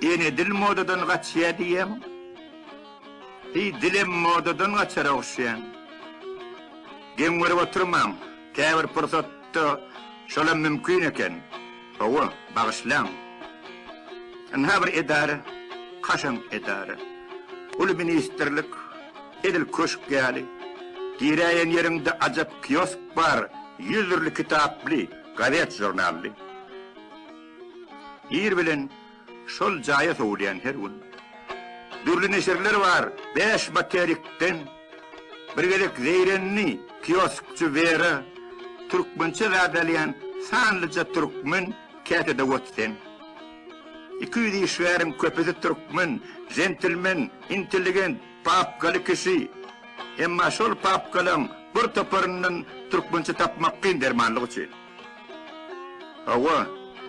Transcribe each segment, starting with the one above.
Ýene dil modadan gaçýar diýýäň. Heý, dilem modadan gaçar ogşaýan. Geň görüp oturmaň, käbir pursatda şolam mümkin eken. Hawa, bagyşlaň. Ynha bir edara, kaşaň edara. Uly ministrlik, edil köşk ýaly. Giräýen ýeriňde ajap kiosk bar, ýüz dürli kitaply, gazet-žurnally. Ir bilen Şol jaýa sowulýan her gün dürli neşirler bar. Bäş materikden bir gezek zeýrenli kioskçy Wera türkmençe zat alýan sanlyja türkmen käte dowot sen. Iki ýüz işgäriň köpüsi türkmen, jentilmen, intelligent, papkaly kişi. Emma şol papkalaň bir toparyndan türkmençe tapmak kyn dermanlyk üçin. Hawa,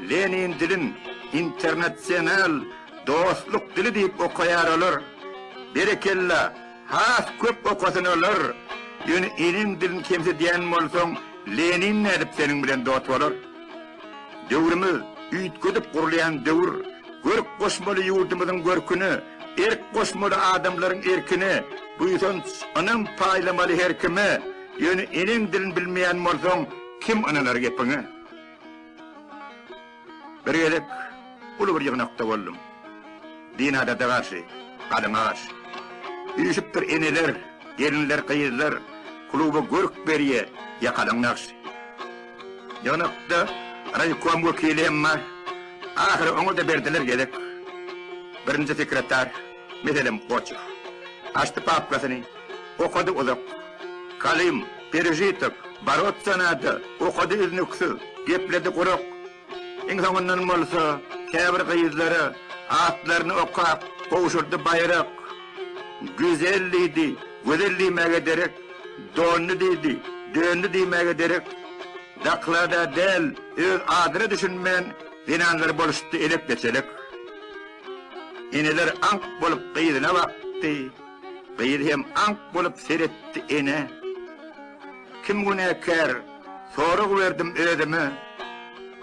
Lenin dilin internasional dostluk dili diýip okaýar olar. Berekella, has köp okasyn olar. Ýöne eneň dilini kemsidýän bolsaň, Lenin nädip seniň bilen dost bolar? Döwrümiz üýtgedip gurulýan döwür. Görk goşmaly ýurdumyzyň görküne, erk goşmaly adamlaryň erkine, buýsanç, ynam paýlamaly her kime. Ýöne eneň dilini bilmeýän bolsaň, kim ynanar gepiňe? Bir gezek uly bir ýygnakda boldum. Din adata garşy, galyňa garşy. Üýşüpdir eneler, gelinler, gyzlar, kluba görk berýä, ýakalaň nagşy. Ýygnakda raýkom wekili hem bar. Ahyry oňa-da berdiler gezek. Birinji sekretar. Meselem, Goçew. Açdy papkasyny, okady uzak. Kalym, perežitok, boroться nado, okady üznüksiz, gepledi gurak. Iň soňundan bolsa, käbir gyzlara atlaryny okap, gowşurdy baýrak. Güzel diýdi, gözel diýmäge derek, dondy diýdi, döndi diýmäge derek. Zaklada däl, öz adyna düşünmän, zenanlar boluşdy elek-geçelek. Eneler aňk bolup gyzyna bakdy. Gyz hem aňk bolup seretdi enä. Kim günäkär? Sorag berdim özüme.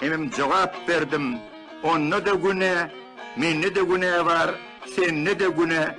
Hemem jogap berdim. Onda-da günä, mende-de günä bar, sende-de günä.